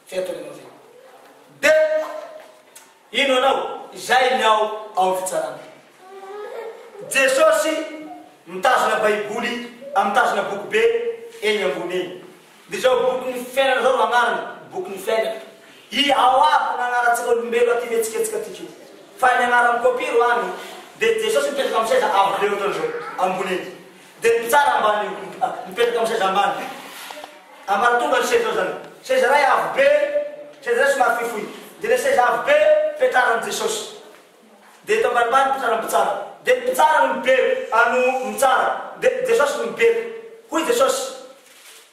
Fetra ianao zay. De ino anao izay ny ao ao ny fitsarana. Jesosy mitazona baiboly a mitazona boky be eny ambony eny. De zao boky ny fiainana zao no agnarany, boky ny fiainana. I ao aby ny agnarantsika olombelo aty mihetsiketsika aty ko. Fa ny agnaran'i Copy ro any. De Jesosy mipetraka amin'ny seza avo be ohatran'izao ambony eny. Dia ny mpitsara ambany mipetraka amin'ny seza ambany ambaratonga ny seza eo izany. Seza iray avo be, seza iray somary fohifohy. Dia ilay seza avo be fipetraran'i Jesosy. Dia eto ambanimbany mipetraka ny mpitsara. Dia ny mpitsara no mibeko, no mitsara. Dia Jesosy no mibeko. Hoy Jesosy,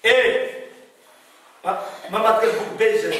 Ee, mamadika ny boky be izay.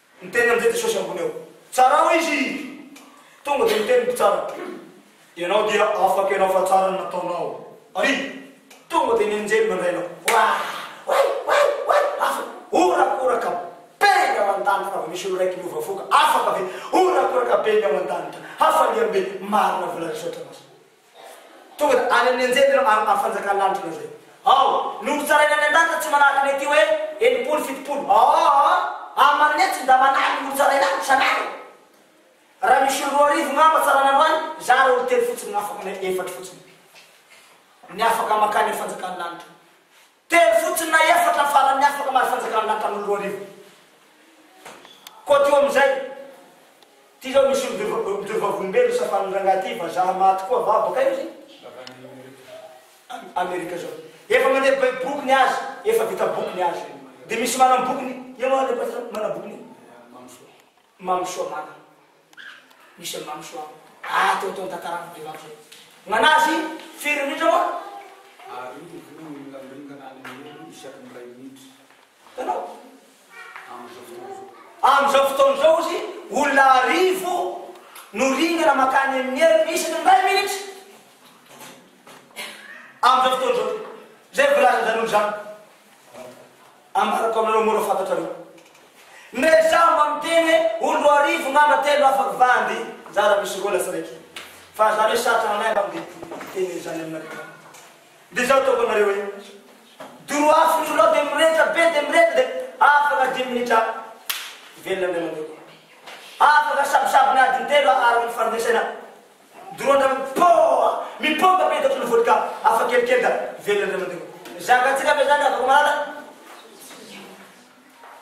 Niteny amin'izay Jesosy ambony eo. Tsarao izy! Tonga dia niteny ny mpitsara, Ianao dia afaka ianao fa tsara ny nataonao. Ary tonga dia ny anjely nandray anao. Wah! Way! Way! Way! Afaka! Horakoraka be ny ao an-danitra raha vao misy olon-draiky miova fo ka. Afaka ve? Horakoraka be ny ao an-danitra. Hafaliam-be! Marina vola resatranao izany. Tonga dia any amin'ny anjely ireo amin'ny fanjakan'ny lanitra ianao izay. Ao, nohotsaraina any an-danitra tsy manahaka ny aty hoe enimpolo, fitopolo. Aa! Aman'ny etsy ndà manahy ny hotsaraina any isan'andro. Raha misy olo roa arivo ngamba tsaraina andro any, izaho raha olo telo fotsiny na afaka, na efatra fotsiny, ny afaka mankany amin'ny fanjakan'ny lanitra. Telo fotsiny na efatra farany afaka mahazo fanjakana ny hatramin'ny roa arivo. Koto amin'izay, ity zao misy mijoro vavolombelona hosafan'ny rangahy ity, vazaha maty koa va, bakaiza izy? Amerika zao. Efa mandeha be boky ny azy, efa vita boky ny azy. Dia misy manam-boky ny, ianao ary le mpatsy manam-boky ny? Mamy soa mamy. Misy an mamy soa ah atao atao ny tantarako be mamy zay. Gnanazy firy minitra moa? Ary io voa miringaringana any ambony isaky ny iray minitra. Hitanao? Amin'izao fotoana izao. Amin'izao fotoana izao ozy olona arivo no ringana makany amin'ny heriny isaky ny iray minitra. Amin'izao fotoana izao. Izay voalazan'izany olona izany. Ambarako aminareo mora fantatrareo. Ndray izaho mba miteny hoe olo roa arivo ngamba telo afaka va ande zara misy roa lasa raiky fa zany hoe sarotra nganahy mba mde miteny an'izany aminareo zany de zao ataoko anareo hoe doro afo ny olo ao de mirehitra be de mirehitra de afaka dimy minitra velona ny anareo afaka sabosabony adiny telo ary ny fanomezana Dorana mipôha, mipôka be tato Lofotry ka afa kely kely ka velona indray mandeha. Zakatsika ve zany afaka mahalala?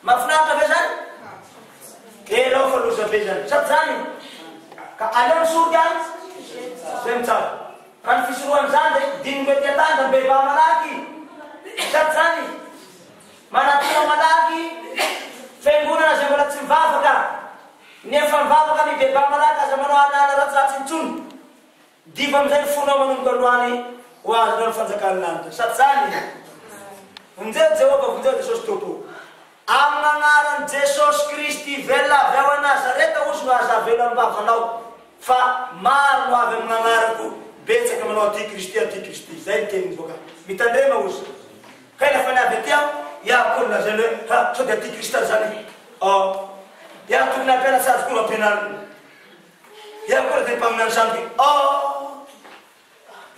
Mafinaritra ve zany? Elao fa loza be zany. Sady zany io. Ka aleo ny soroka zay no tsara. Ka ny fisorohana zany de dingo ety an-tany de mibebaha malaky. Sady zany manatona malaky fiangonana zay mbola tsy mivavaka. Ny efa mivavaka mibebaha malaky aza manao an'ala ratsiratsy intsony. Diva amin'izay ny fonao manomboka androany ho azonao ny fanjakan'ny lanitra. Sa tsy izany e? Vonjeo Jehovah, vonjeo Jesosy Tompo. Amin'Agnaran'i Jesosy Kristy ivelona avy ao Nazareta ozy no aza avela am-bavanao fa maro no avy amin'Agnarako, betsaka manao aty Kristy, aty Kristy. Izay ny teny mivoaka. Mitandrema ozy. Kay la fanahy avy aty aho iah akory ny lazainy hoe ha sao dia tia kristy zany oh iah tokony hampianatra azy koa no ampianarina iah koa raha tena mpaminany zany dia oh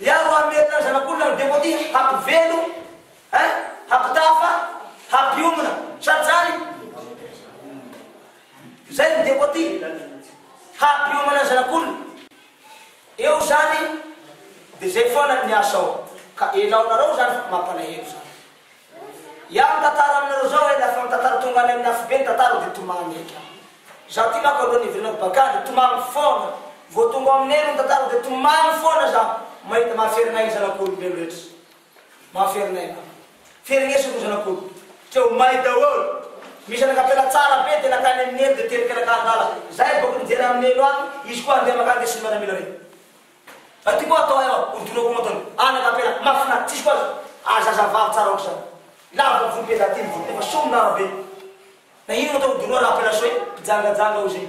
iah ro hamery zany zanak'olona ny devote hampivelo hein hampitafa hampiomina sady zany zay ny devote hampiomana ny zanak'olona Eo zany de zay foana ny asa ao ka elaonareo zany fa mampalahelo zany. Iah mitantara aminareo zao eh rehefa mitantara tonga any amin'ny afobe ny tantara de tomany eky ah. Zah ty manko alohan'ny hiverenako bacca de tomagny foana, vao tonga ao aminay aloha ny tantara de tomagny foana zah mahita mahafery anay ny zanak'olombelo rehetra. Mahaferinaina aho. Fereneso ry zanak'olo. Treo may daholo. Misy anak'ampela tsara be dia nakany amin'i Neny dia tery mpianakavy lala. Zay mivoaka mijery amin'i Neny ho any, izy koa handeha makany dia tsy mba namela hoe. Aty koa atao aho ho donako mantony. Anak'ampela mahafinaritra. Tsisy koa aza zazavavy tsara ohatr'izany. Lava ny volon'i Beza aty ny volony nefa soa ny lava be. Na inona atao ho doroa raha ampelasoa e. Mpijangajanga hozy e.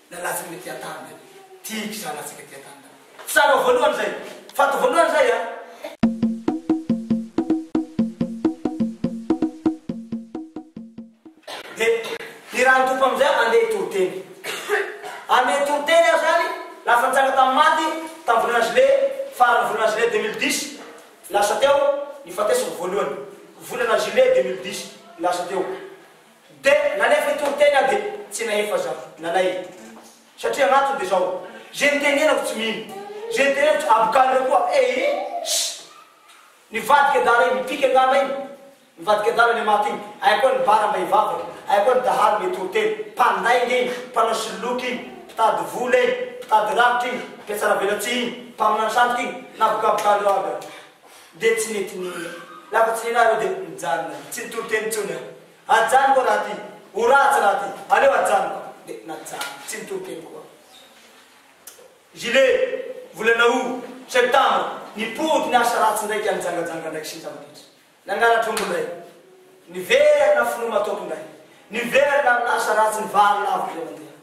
Nalatsaka ny aty an-tany be. Tiako izany latsaka aty an-tany be. Tsara ho voalohany izay. Fa atao voalohany izay an. Dia i Randoko amin'izay handeha hitoriteny. Handeha hitoriteny aho izany, lasa nitranga tamin'ny maty, tamin'ny volana Juillet, faran'ny volana Juillet deux mille dix, lasa teo, nifatesako voalohany. Volana Juillet deux mille dix, lasa teo. Dia nalefa hitory teny aho dia tsy nahefa zafy nalainy satria gn'antony dia zao, ze nitenenako tsy mino, ze nitenenako tsy abokany reo koa ee ss! Nivadika adala iny, mipika angamba iny, mivadika adala le maty iny, ay koa ny bara mba hivavaka, ay koa ny dahalo mba hitory teny, mpandainga iny, mpanao soloky iny, mpitady vola iny, mpitady rafitra iny, mpiatsara velatsihy iny, mpaminany sandoka iny, nabokabokany reo aby aho. Dia tsy nety ny ora. Lava tsy nila aho dia nijanona. Tsy nitory teny intsony aho. Ajanoko raha ty. Ho ratsy raha ty. Aleo ajanoko. Dia najanoko. Tsy nitory teny koa aho. Juillet, volana août, septembre, nipody ny asa ratsy indraika nijangajanga indraiky sy nitambaditra. Nangalatr'omby indray. Niverina finoa matoky indray. Niverina amin'ny asa ratsy ny vary laviko dia nandeha.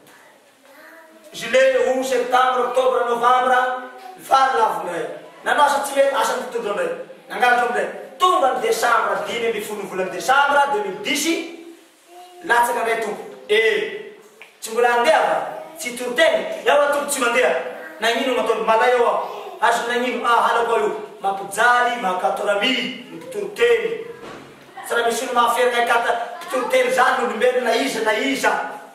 Juillet, aout, septembre, octobre, novembre, ny fary lavo indray. Nanao asa tsy mety, asan'ny mpitondra indray. Nangalatra indray. Tonga ny décembre, dimy ambin'ny folo ny volan'ny décembre deux mille dix, latsaka indray Tompo. Eh! Tsy mbola handeha va? Tsy tory tena? Ewa Tompo tsy mandeha. Nagnino no ataony malay ao aho? Azony nagnino? Ah, halako aho io. Mampijaly, mahakatoramia, ny mpitory teny. Tsy raha misy olona mahafehy anay kata mpitory teny izany olombelona na iza na iza.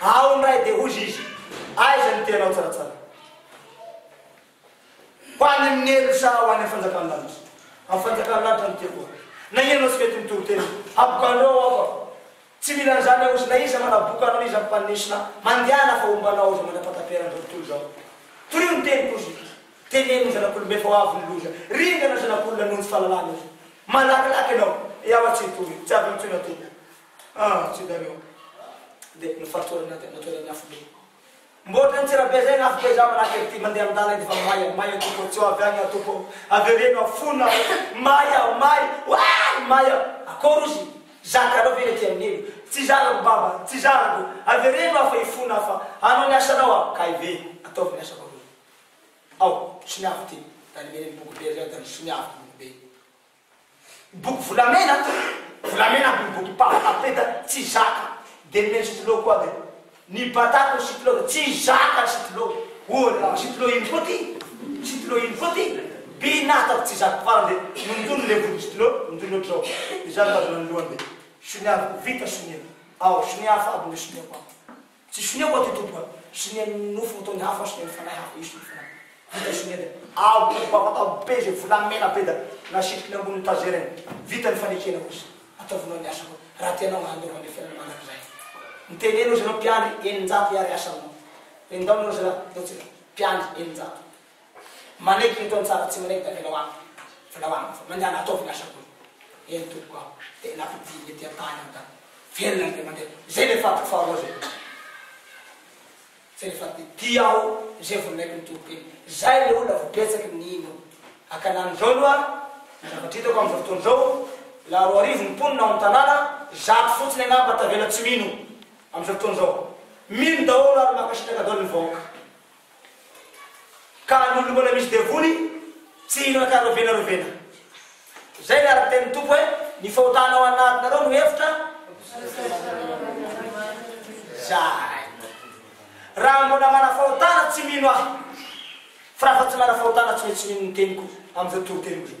Ao ny ray dia hozy izy, Aiza ny teanao tsaratsara? Ho any amin'ny helony sa ho any amin'ny fanjakan'ny lanitra? Amin'ny fanjakan'ny lanitra no tiako aho. Na ianao tsy mety mitoriteny, habokandreo aho aho fa tsy mila an'izany aho hozy, na iza manaboka anao na iza mpanisina mandehana fa hombanao aho izao mandra-pahataperana izao tontolo izao. Torio ny teniko hozy, teneno ny zanak'olombe fa ho avy ny loza, ringana ny zanak'olona noho ny tsy fahalalana hozy. Malakilaky ianao, eawa tsy hitory, tsy avy intsony aho tompoko. Ah tsy zany oh. Dia ny fahasoran'ny ady amin'ny toeran'ny afobe. Mba ohatran'ny tsirabe zay ny afobe za manahaka ery ty mandeha amindala edy fa may a may a tompo tsy ho avy any aho tompo oh. Avereno aho fona aho may aho may waay may aho akory ozy zakanao ve ny aty amin'ny elo tsy zarako baba tsy zarako avereno aho fa hifona aho fa hanao ny asanao aho kay ve ataovy ny asako aloha aho soniavo ty da nimeneny boky be ry zay da nisoniavo boky be Boky volamena Volamena aby ny boky papa tapeta tsy zaka de nomen'i Sitlo koa aby ny batako ny Sitlo de tsy zaka ny Sitlo ohatra Sitlo ino koa ty Sitlo ino koa ty binata fa tsy zaka farany de nondoniny le boky Sitlo nondoniny ohatr'izao izany mitazona ny lohany de sonia vita sonia ao sonia hafa aby ny soniako ao Tsy sonia koa ty Tompo a! Sonia ny nofo ho toy ny afo ary sonia ny fanahy hafa hisy ny fo nanina. Vita sonia dia. Avo vavaka be izay volamena be da nasitriny ambonin'ny tazerany. Vita ny fanekena kosa. Ataovonao ny asako raha tianao handova ny fiainana mandrakizay. Miteneno ry zareo mpiandry eninjato hiary asanao. Endaona ry zareo ataontsika mpiandry eninjato. Manaiky ireto antsafa tsy manaiky da velao amiko velao amiko fa mandehana ataovy ny asako io eny tompoko aho de nampidiriny ety an-tany aho da velona ny be mandeha zay le fadiko faharoa zay zay le fadiko de tia aho zay vao ninaiko ny tompoko iny zay le olona vao betsaky ny nino akanany zao aloha ny zavatra hitako amizao fotoana zao la roa arivo ny mponina ao an-tanàna zato fotsiny angamba tavela tsy mino amizao fotoana zao mino daholo ary mankasitraka daholo ny vahoaka Ka ny olona mbola misy devoly tsy hihinana ka rovena rovena. Izay ilay araka ny tenin'ny Tompo hoe, Ny fahotana ao anatinareo no efitra zany. Raha mbola manafahotana tsy mino aho, fa raha fa tsy manafahotana tsy maintsy mino ny teniko amin'izao toriteny izao.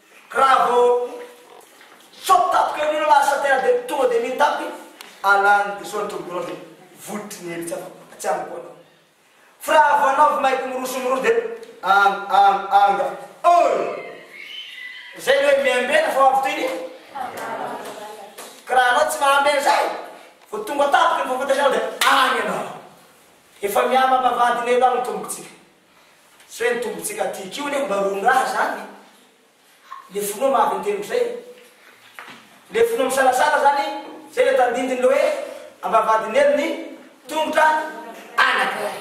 Bravo! Sao tapaka indray ianao lasa tena dia tonga dia mitapy alany dia sao ny tombokinao dia votry ny hevitra anao fa tsy amiko anao fa raha vao anao vao maika miroso miroso dia ang ang anga oi zay ny hoe miambena fa avy toy ny ka raha anao tsy mahambena zay vao tonga tapaka ny vao fantatrao dia any ianao efa mihamama vadiny eto any ny tombokintsika Tsy hoe ny tombontsika tiako io anie mba roa mirary zany le finoa maha avy intelo zay le finoa misalasala zany zay le tandindiny le hoe ambavahadinelo ny tongotra anakiray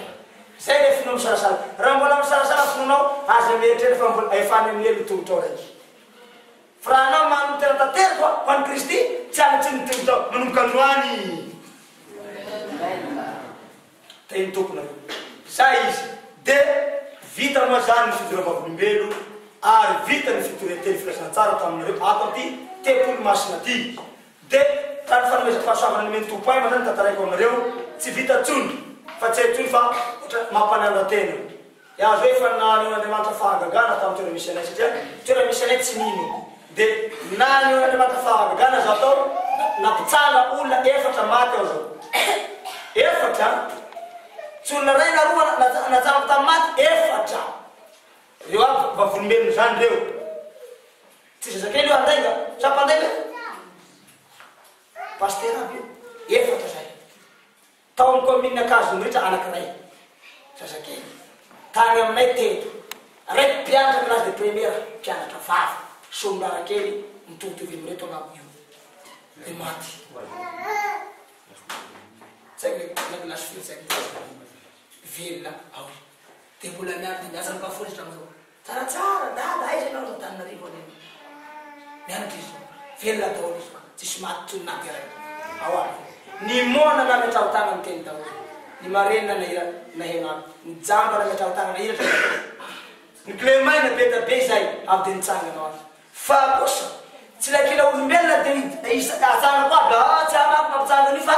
zay le finoa misalasala raha mbola misalasala finoanao aza mieritreritra fa mbola efa any amin'ny lelo tongotrao raiky fa raha anao manome tena tanteraka ho an'i Kristy tsy any tsy ny tongotrao manomboka androany Teny tompony aloha zay izy de vita moa zany ny fidora vavolombelo ary vita ny fitoria teny filazantsara taminareo ato aty tempoly masina aty de raha ny fanomezako fahasoavana nomen'ny tompo ahy mandray ny tantaraiko aminareo tsy vita tsony fa tsy hay tsony fa otra mampanala tena Yaveh efa naneho Andriamanitra fahagagana tamin'ny toerana misy anay satria toerana misy anay tsy mino dia naneho Andriamanitra fahagagana zah tao nampitsanga olona efatra maty aho zao efatra an tsy olona ray na roa najanoko tamin'ny maty efatra reo aby vavolombelony zany reo tsy zazakely io andainga sa mpandainga pasteur aby io efatra zay Tao amin'ny kaominina Ankazonriatra anankiray, zazakely, tany aminay teto, raiky mpianatra classe de première, mpianatra vavy, solombavakely mitovitovy amin'ireto angamba io, ny maty. Zay le la lasifiry zay velona ao. Dia mbola miaro dia miasa ny bafolitra amin'izao. Tsara tsara dada aiza ianao ato Antananarivo any anie mianatra izy zao velona daholo izy fa tsisy maty toy ny naty iray ao ary ny moana nametraho tanana teny daholo ny marenina nahira naherana ny jamba nametraho tanana hiratra daholo ny clé maina be da be izay avy dia nitsangana ho avy Fa kosa tsy ilay kila olombelona dia ny isa hajanoko aby aa tsy amako no hampijano an'io fa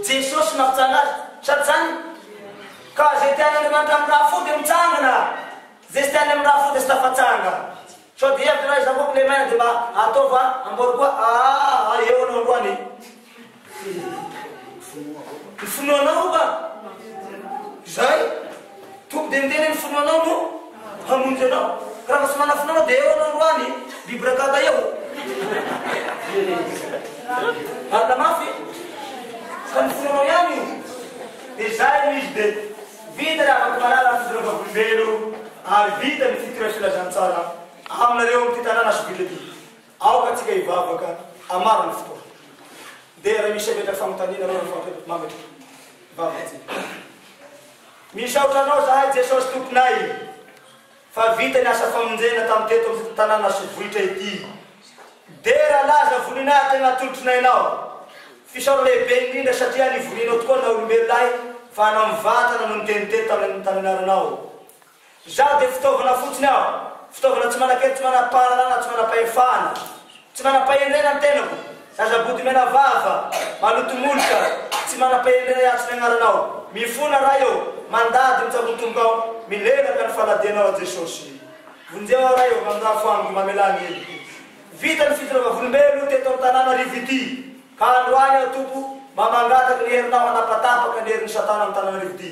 Jesosy no hampijano azy sa tsy zany? Ka ze tian' Andriamanitra amin'ny raha fo dia mitsangana ze tsy tiany amin'ny raha fo dia tsy tafatsanga sao dia hevitra raha izaho koa kilemaina dia mba ataova amboary koa aa eo aloha androany e! Ny finoanao va? Izay? Tompo dia miteny ny finoanao no hamonjy anao. Raha mba tsy manana finoana dia eo anao roany, bibrakata eo. Marina mafy. Ka ny finoanao ihany io. Dia izay no izy dia vita ny afaka manala ny finoana vavolombelona ary vita ny fikira filazantsara aminareo amin'ity tanàna sy ville ity. Aoka tsika hivavaka hamaro ny fotoana. Dia raha misy hemetra fanontaniana anao rehefa avy mametraka vava tsika. Misaotra anao zahay Jesosy Tomponay fa vita ny asa famonjena tam teto am tanàna sy vohitra ity. Dera laza voninahitra ny atolotry nay nao. Fisaorana lehibe indrindra satria nivorianao tokoa na olombelona ahy fa hanao ny vatana no niteny teto tam ny anaranao. Izaho dia fitaovana fotsiny aho, fitaovana tsy manan-kery, tsy manam-pahalalana, tsy manam-pahefana, tsy manam-pahendrena ny tenako, zaza bodomena vava, maloto molotra, tsy manam-pahendrena hiantso ny Agnaranao, mifona Ray ô, mandady ny tsakotomboka aho, milelaka ny faladianao aho Jesosy. Vonjeo aho Ray ô, manonafo amiko, mamelà ny heloko. Vita ny fitondrava volombelo teto Antananarivo ity, ka androany aho Tompo mba mangataky ny herinao hanapatapaka ny herin'i Satana amin'i Tananarivo ity,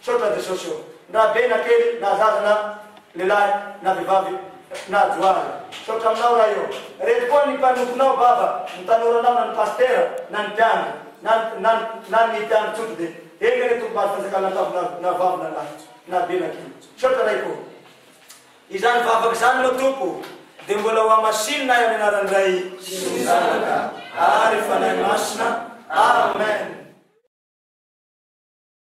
Misaotra an'i Jesosy ô! Ndra be na kely na zaza na lehilahy na vehivavy na johary. Misaotra aminao Ray ô! Reto koa ny mpanomponao Baba, ny tanora anao na ny Pastera na ny mpiandry na na na ny mpiandry tsotra dia eny anie Tompo maty fanjakana an-tafo na na vavy na lahy na be na kely. Misaotra Raiko ô! Izany vavaka izany moa Tompo ô dia mbola ho hamasinina ahy amin'ny anaran'ny Ray sy ny Zanaka ary Fanahy Masina. Amen.